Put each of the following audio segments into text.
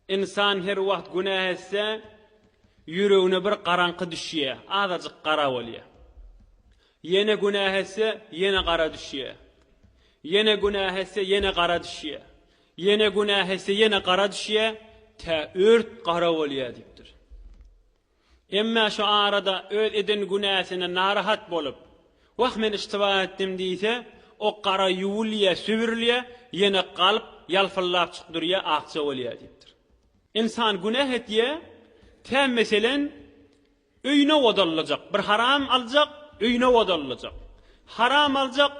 Ynsan her wagt günäh etse, ýüregine bir garaňky düşýär, azajyk gara bolýar. Ýene günäh etse, ýene gara düşýär. Ýene günäh etse, ýene gara düşýär. Ýene günäh etse, ýene gara düşýär, tä ört gara bolýar diýipdir. Emma şu arada öz eden günäsine narahat bolup, Wah, men yştyba etdim diýse, o gara ýuwulýar, sübürilýär, ýene galp ýalpyldap çykyp durýar, akja bolýar diýipdir. Ynsan günä etýär, tä, meselem, öýüne odalyjak, bir haram aljak, öýüne odalyjak. Haram aljak,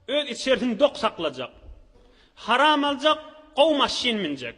öz içerisini dok saklajak. Haram aljak, gowy maşyn münjek.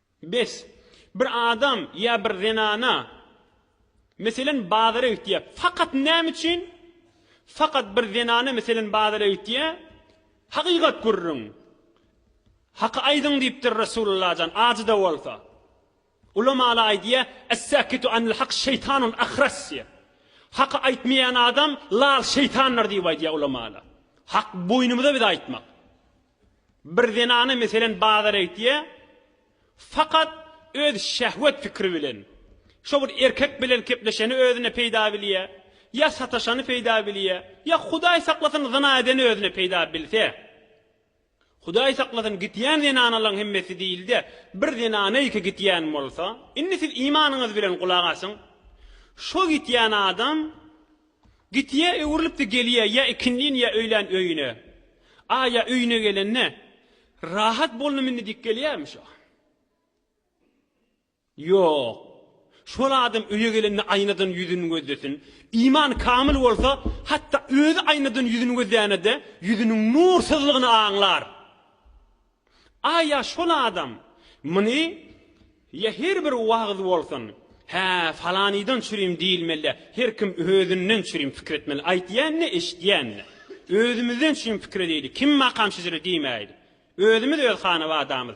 Bes, bir adam ýa bir zenana, meselen, bazara gitýär. Fakat näme üçin? Fakat bir zenana, meselen, bazara gitýär, Hakykat gürrüň, haky aýdyň diýipdir Resulullah jan, ajy-da bolsa. Ulamalar aýdýar, Es-säkitu anil hak şeýtanun ahras diýip. Haky aýtmaýan adam lal şeýtandyr diýip aýdýar ulamalar. Hak boýnumyza biz aýtmak. Bir zenana meselen bazara gitýär, fakat öz şehwet pikiri bilen, şo bir erkek bilen kepleşeni özüne peyda bilýär, ya sataşany peyda bilýär, ya hudaý saklasyn zyna edeni özüne peyda bilse, hudaý saklasyn gitýän zenanalaň hemmesi diýilde bir zenanaýka gitýän bolsa, indi siz imanyňyz bilen gulak asyň, şo gitýän adam Git ýa öwrülipdi gelýä ýa ikindin ýa öýlän öýüne. A ýa öýüne gelende Rahat bolnum indi diýip gelýämi şo? Ýok. Şol adam öýe gelende aýnadan ýüzün gözlesin. Iman kamyl bolsa hatda özi aýnadan ýüzün gözlänede ýüzüniň nursyzlygyny aňlar. A ýa şol adam muny ýa her bir wagyz bolsun, Hä, falanydan çürim diýilmeli-dä, her kim özünden çürim pikir etmeli, aýtýan-da, eşitýän-de. Özümizden çürim pikir edeýli, kim makam-şejere diýmäýli. Özümiz öz hanabadamyz.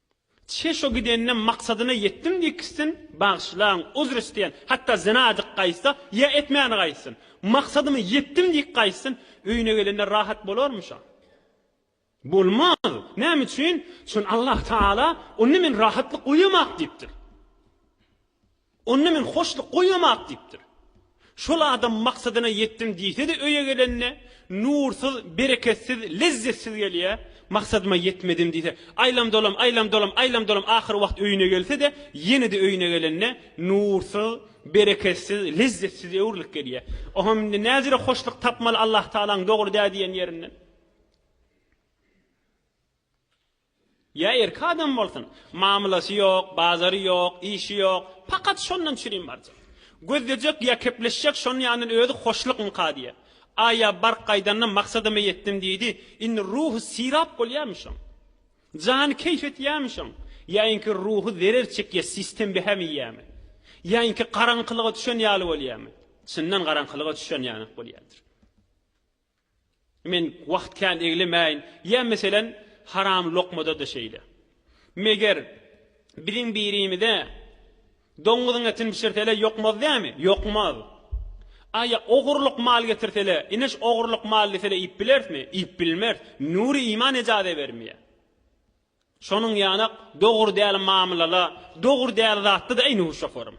Çe şo gidende maksadyna ýetdim diýkissin, bagyşlaň, uzr isleýän, hatda zyna adyk gaýtsa, ýa etmäni gaýtsyn, maksadyma ýetdim diýk gaýtsyn, öýüne gelende rahat bolarmy şa? Bolmaz! Näme üçin? Çün Allah Taala onda men rahatlyk goýamak diýipdir. Onda men hoşluk goýamak diýipdir. Şol adam maksadyna ýetdim diýse-de öýe gelende nursyz, bereketsiz, lezzetsiz gelýär, maksadyma ýetmedim diýse, aýlam-dolam, aýlam-dolam, aýlam-dolam ahyr wagt öýüne gelse-de, ýene-de öýüne gelende nursyz, bereketsiz, lezzetsize öwrülip gelýär. Oňam indi näzire hoşluk tapmaly Allahtagalaň dogry dä diýen ýerinden. Ýa erki adam bolsun, mamlasy ýok, bazary ýok, işi ýok, pakat şondan çürim barjak. Gözlejek ýa kepleşjek şony ýandan özi hoşlukmyka diýýä. A ýa bark gaýdanda maksadyma ýetdim diýdi, indi ruhy syrap bolýamyşyn. Jany keýp etýämişin. Ýa inki ruhy zerer çekýä sistem behäm iýýämi. Ýa inki garaňkylyga düşen ýaly bolýamy. Çyndan garaňkylyga düşen ýanak bolýadyr. Men wagt kän eglemäýin. Ýa meselem, haram lokmada-da şeýle. Meger, biziň birimize doňňuzyň etini bişirsele ýokmaz dämi? Ýokmaz. A ýa ogurlyk mal getirsele, ine şu ogurlyk mal desele iýip bilerismi? Iýip bilmeris. Nury iman ejaze bermeýär. Şonuň ýanak dogry däl mamlala dogry däl zatda-da eý nur şoferim.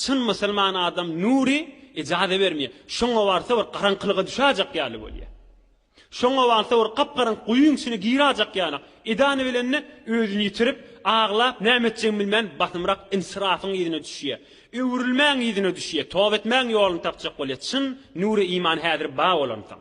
Çyn musulman adam nury ejaza bermeýär. Şoňa barsa bir garaňkylyga düşäýjek ýaly bolýar. Şoňa barsa bir gap-garaňky guýyň içine giräýjek ýanak. Edany bilende özüni ýitirip, aglap näme etjegini bilmän basymrak insirafyň yzyna düşýär. Öwrülmäň yzyna düşýär. Toba etmäň ýoluny tapjak bolýar. Çyn nury iman häzir bar bolansoň.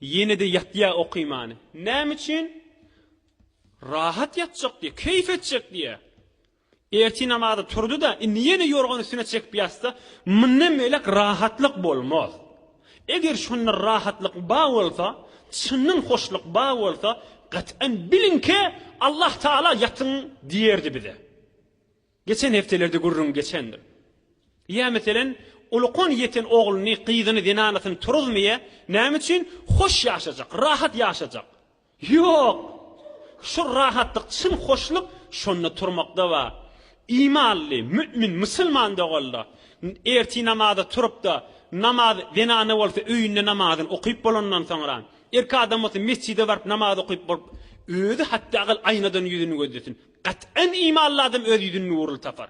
Ýene-de ýatýar okymany. Näme üçin? Rahat ýatjak diýýär, keýp etjek diýýär. Ertir namaza turdy-da, indi ýene ýorgan üstüne çekip ýatsa, mundan beýläk rahatlyk bolmaz. Eger şonda rahatlyk bar bolsa, çyndan hoşluk bar bolsa, gat'an biliňki, Allah Tagala ýatyň diýerdi bize. Geçen hepdelerde gürrüň geçendir. Ýa meselem, Ulukan ýeten ogluny, gyzyny, zenanasyny turuzmyýa, näme üçin? Hoş ýaşajak, rahat ýaşajak. Ýok! Şol rahatlyk, çyn hoşluk şonda turmakda bar. Imanly, mümin, musulman doganlar, ertir namaza turup-da, namaz, zenana bolsa öýünde namazyny okyp bolandan soňra, erkek adam bolsa mesjide baryp namaz okyp bolup, özi hatda aýnadan ýüzüni gözlesin. Gat'an imanly adam öz ýüzüni nurly tapar.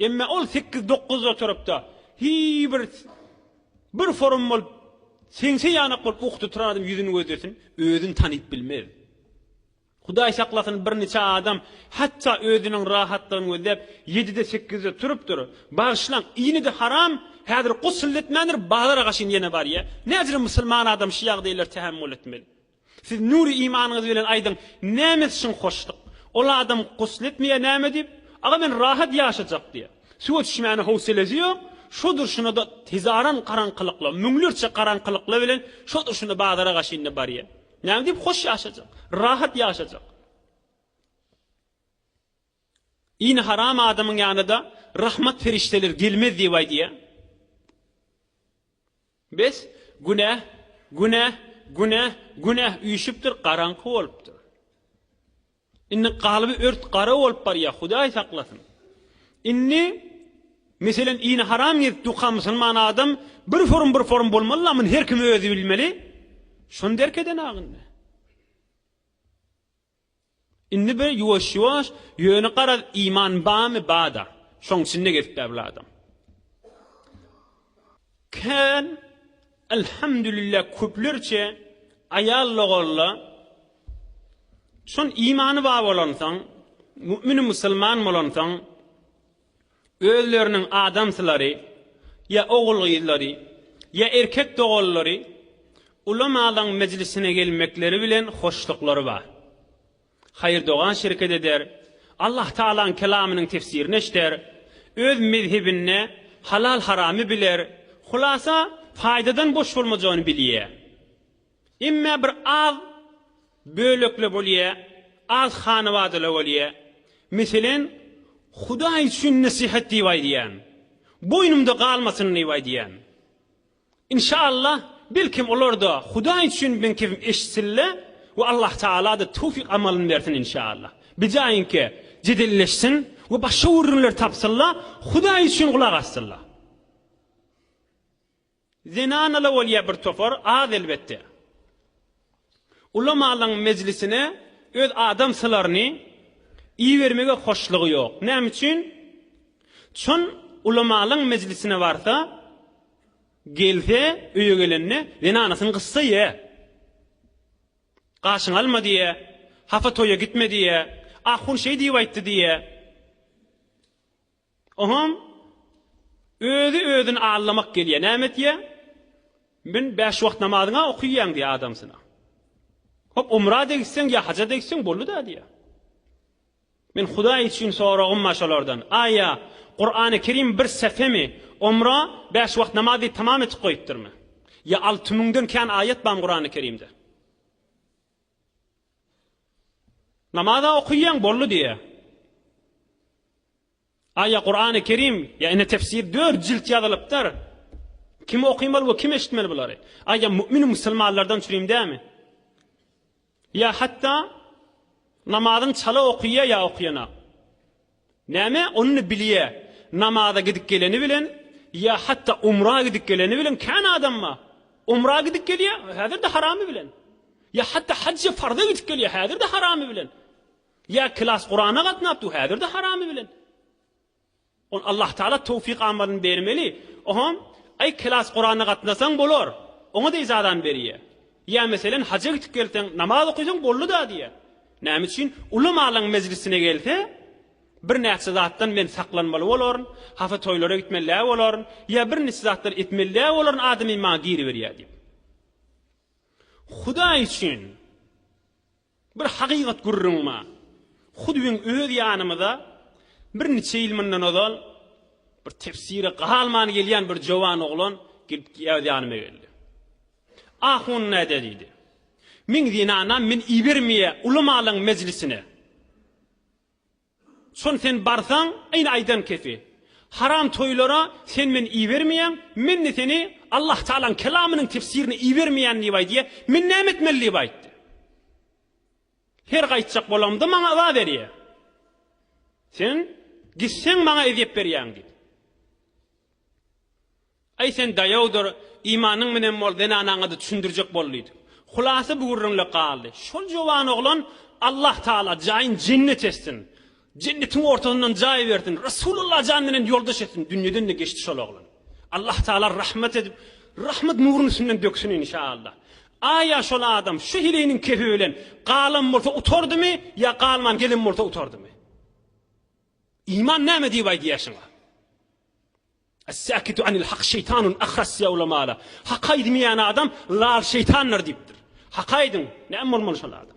Emma ol sekiz dokuz oturupda hiý bir bir forum bolup seňse ýanak bolup uky tuturan adam ýüzüni gözlesin, özüni tanyp bilmez. Hudaý saklasyn bir niçe adam hatda özüniň rahatlygyny gözläp ýedide sekizde turupdyr. Bagyşlaň, ýene-de haram, häzir gusl etmändir, bazara gaşyn ýene barýa. Näcirem musulman adam şu ýagdaýlara tähemmül etmeli. Siz nury imanyňyz bilen aýdyň, näme çyn hoşluk? Ol adam gusl etmeýär näme diýip, Aga men rahat ýaşajak diýýär. Suwa düşmäne howselesi ýok, şo durşuna-da hezaran garaňkylykla, müňlerçe garaňkylykla bilen şo durşuna bazara gaşynda barýar. Näme diýip hoş ýaşajak? Rahat ýaşajak? Ini haram adamyň ýanyda rahmat perişdeler gelmez diýip aýdýa. Bes günäh günäh günäh günäh üýşüpdir garaňky bolupdyr. Indi galby ört gara bolup barýa hudaý saklasyn. Indi meselen ini haram gezip duka musulman adam bir forum bir forum bolmaly la muny her kim özi bilmeli. Şony derk eden agyndy. Indi bir ýuwaş-ýuwaş, ýöne garaz, iman barmy, bar-da, şoň içinde gezip bärbil adam. Kän, alhamdulillah, köplerçe aýal logarla şon imany bar bolansoň, mu'min-u musulman bolansoň, Özleriniň adamsylary, ýa ogul-gyzlary, ýa erkek doganlary ulamalaň mejlisine gelmekleri bilen hoşluklary bar. Haýyr dogan şirket eder, Allah Tagalaň kelamynyň tefsirini eşder, öz mezhebinde halal-haramy biler, hulasa, paýdadan boş bolmajagyny bilýär. Emme bir az bölekle bolýa, az hanabadala bolýa. Meselen, Hudaý üçin nesihat diýip aýdýan. Boýnumda galmasyn diýip aýdýan. Inşaallah, belkem olarda Hudaý üçin bilen kepim eşitsinle we Allah Tagalada töwfik amalyn bersin inşaallah. Bijaýinke jedelleşsin we başga gürrüňler tapsynla, Hudaý üçin gulak assynla. Zenanala bolýa bir topar, az elbetde. Ulamalaň mejlisine öz adam sylaryny ibermege hoşlugy ýok. Näme üçin? Çon ulamalaň mejlisine barsa, gelse, öýe gelende zenanasyny gysdy ýa. Gaşyňy alma diýä, hapa toýa gitme diýä, ahun şeý diýip aýtdy diýä. Oňam özi özüni allamak gelýär. Näme etýär? Men bäş wagt namazyň-a okyýan diýýär adamsyna. Hop, umra-da gitseň diýýär, haja-da gitseň boldy-da diýýär. Men Hudaý üçin soragym bar şolardan, Aýa, Kurany Kerim bir sähemi, umra, bäş wagt namaz diýip tamam etip goýupdyrmy? Ýa alty müňden kän aýat barmy Kurany Kerimde? Namaza okaýaň boldy diýýä. A ýa Kurany Kerim ýa ine tefsir dört jilt ýazylypdyr. Kim okymaly we kim eşitmeli bulary? A ýa mümin musulmanlardan çürim dämi? Ýa hatda namazyny çala okaýa ýa okaýanak. Näme, ony bilýä, namaza gidip geleni bilen ýa hatda umra gidip geleni bilen kän adam bar. Umra gidip gelýä, häzir-de haramy bilen. Ýa hatda hajja, farza gidip gelýä, häzir-de haramy bilen. Ýa klas Kurana gatnap dur, häzir-de haramy bilen. Ony Allah Taala towfyk-amadyny bermeli. Oňam, Aý, klas Kurana gatnasaň bolar. Oňa-da ijazany berýä. Ýa meselen, haja gidip gelseň, namaz okaýsaň boldy-da diýýä. Näme üçin? Ulamalaryň mejlisine gelse, birnäçe zatdan men saklanmaly bolaryn, hasa toýlara gitmeli-dä bolaryn, ýa birnäçe zatlar etmeli-dä bolaryn adamy maňa giriberýär diýip. Hudaý üçin bir hakykat gürrüň bar. Hut biziň öz ýanymyza birnäçe ýyl mundan ozal bir tefsire galman gelýän bir jowan oglan gelip ýanyma geldi. Ahun näde diýdi. Meň zenanam men ibermeýä ulamalaň mejlisine. Şon sen barsaň, ine aýdan kefi. Haram toýlara sen men ibermeýäň, men-de seni Allah Tagalaň kelamynyň tefsirine ibermeýän diýip aýdy. Men näme etmeli diýip aýtdy. Her gaýtjak bolamda maňa yza berýä. Sen gitseň maňa ezýet berýäň diýip. Aý sen daýawdyr, imanyň menen bol, zenanaňa-da düşündirjek bol diýdi. Hulasa bu gürrüňle galdy. Şol jowan oglan, Allah Tagala jaýyn jennet etsin, jennetiň ortasyndan jaý bersin, Resulullah jan menen ýoldaş etsin, dünýeden-de geçdi şol oglan. Allah Tagala rahmet edip, rahmet nuruny üstünden döksün inşa Allah. Aýa şol adam şu heleýiniň kefi bilen galan bolsa utardymy ýa galman gelen bolsa utardymy? Iman näme diýip aýdýaşyňa? Es-sakitu anil hak şeýtanun ahras diýýär ulamalar. Hak aýdmaýan adam lal şeýtandyr diýipdir. Hak aýdyň, näme bolmaly şol adam?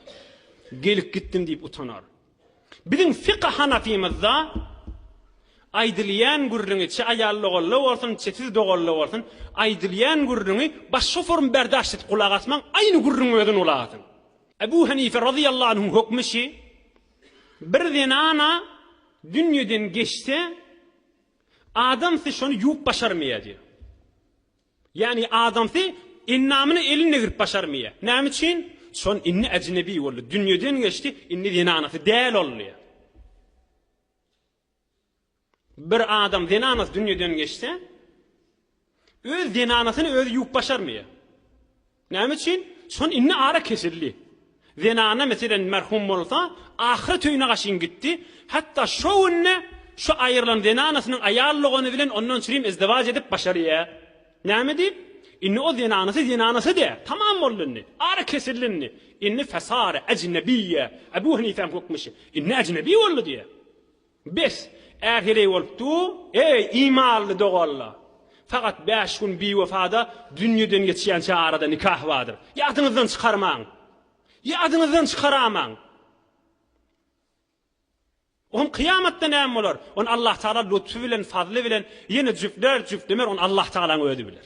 Gelip gitdim diýip utanar. Biziň fika hanafymyzda aýdylýan gürrüňi çe aýal logalla bolsun, çe siz dogalla bolsun, aýdylýan gürrüňi baş şoferim berdaş edip gulak asmaň, aýny gürrüň özüni gulak asyň. Ebu Hanife radiyallahu anh'un hükmü şi, bir zenana dünýeden geçse, Adamsy şony ýuwup başarmaýar diýýär. Ýagny adamsy endamyny eline girip başarmaýar. Näme üçin? Şon indi äjnebi boldy, dünýeden geçdi, indi zenanasy däl ol diýýär. Bir adam zenanasy dünýeden geçse, Öz zenanasyny özi ýuwup başarmy? Näme üçin? Şon indi ara kesildi. Zenana meselen merhum bolsa, ahyret öýüne gaşyn gitdi, hatda şo günde şo aýrylan zenanasynyň aýal dogany bilen ondan çirim izdiwaç edip başarýa. Näme diýip? Indi o zenanasy zenanasy dä, tamam boldy indi. Ara kesildi indi. Indi fesara ejnebiýe, Ebu Henipäň hökmi şu, indi ejnebi boldy diýä. Bes, ähirey bolup dur, eý, imanly doganlar! Sagat bäş gün biwefada dünýeden geçýänçä arada nikah bardyr. Ýadyňyzdan çykarmaň! Ýadyňyzdan çykaramaň! O hem kyýamatda näme bolar? Ony Allahtagala lutfy bilen, fazly bilen ýene jüpler, jüplemer, ony Allahtagalaň özi biler.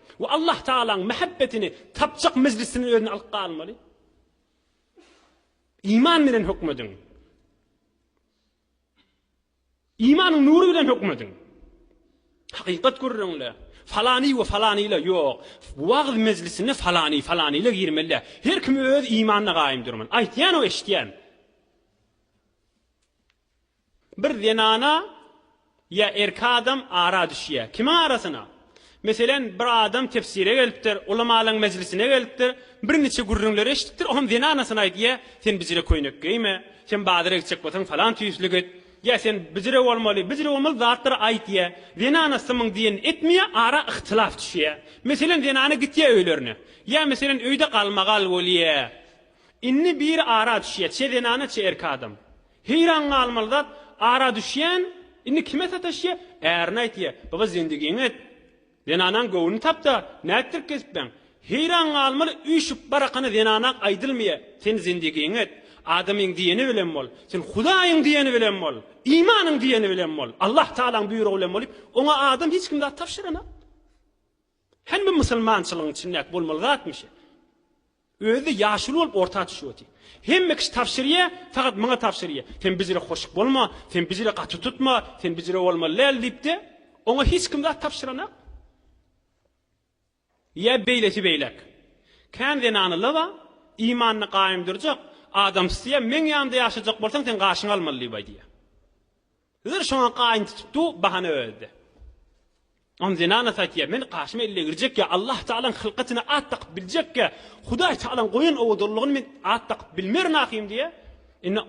We Allah Tagalaň mähebbetini tapjak mejlisini özüne alyp galmaly. Iman bilen hökmediň. Imanyň nury bilen hökmediň. Hakykat gürrüňle, falany we falanyla ýok. Wagyz mejlisine falany, falanyla girmeli. Her kim öz imanyna gaýym durmaly. Aýtýan o eşitýän. Bir zenana ýa erki adam ara düşýär. Kimiň arasyna? Meselem, bir adam tefsire gelipdir, ulamalaryň mejlisine gelipdir, birniçe gürrüňleri eşidipdir, olam zenanasyna aýdýar, Sen bijire köýnek geýme, sen bazara gitjek bolsaň falan tüýsli git, ýa sen bijire bolmaly, bijire bolmaly zatlary aýdýar. Zenanasy muňy diýenini etmeýär, ara yhtilaf düşýär. Meselem, zenana gitýär öýlerine. Ýa meselem, öýde galmagal bolýar. Indi biri ara düşýär, çe zenana, çe erki adam. Heýran galmaly zat, ara düşýän, indi kime sataşýa? Ärine aýtýa, Baba zendigiňi et. Zenanaň göwnüni tap-da, nätdirip gezipbeň? Heýran galmaly üýşüp barakana zenanak aýdylmýa, Sen zendigiňi et. Adamyň diýeni bilen bol. Sen Hudaýyň diýeni bilen bol. Imanyň diýeni bilen bol. Allah Tagalaň buýrugy bilen boliýip, oňa adam hiç kim zat tabşyranok. Hany bu musulmançylygyň içindäki bolmaly zatmy şe? Özi ýaşuly bolup orta düşüp otyr. Hemme kişi tabşyrýa, fakat maňa tabşyrýa. Sen bizire hoşyk bolma, sen bizire gaty tutma, sen bizire bolmaly däl diýipde, oňa hiç kim zat tabşyranok. Ýa beýlesi beýläk. Kän zenanylar bar, imanyny gaýym durjak, adam isteýär, meň ýanymda ýaşajak bolsaň sen gaşyňy almaly diýip aýdýa. Hizir şoňa gaýyn tutupdy, bahana özde. Onuň zenanasy aýtýar, Men gaşyma elle girjekkä, Allah Tagalaň hylkatyna at dakyp biljekkä, Hudaý Tagalaň goýan owadanlygyny men at dakyp bilmerin ahym diýýär. Indi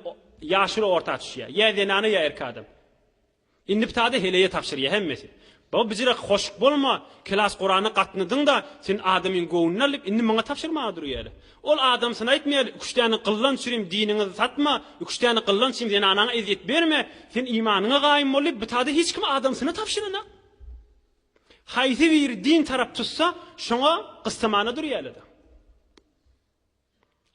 ýaşuly orta düşýär. Ýa zenana, ýa erkek adam. Indi ptada heleýe tabşyrýar hemmesi. Baba bijirek hoşk bolma, kelas Kurana gatnadyňda sen adamyň göwnüni alyp indi maňa tabşyrmaga durýaly. Ol adamsyny aýtmaýaly üç däne gyllan çürim diniňizi satma, üç däne gyllan çim zenanaňa ezýet berme, sen imanyňa gaýym boldy bitada hiç kim adamsyny tabşyranak. Haýsy biri din tarap tutsa şoňa gyssamana durýalyda.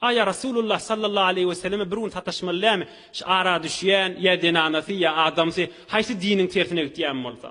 Aýa Rasulullah sallallahu aleýhi we selleme bir gün sataşmaly dämi şu ara düşýän ýa zenanasy ýa adamsy haýsy diniň tersine gitýän bolsa.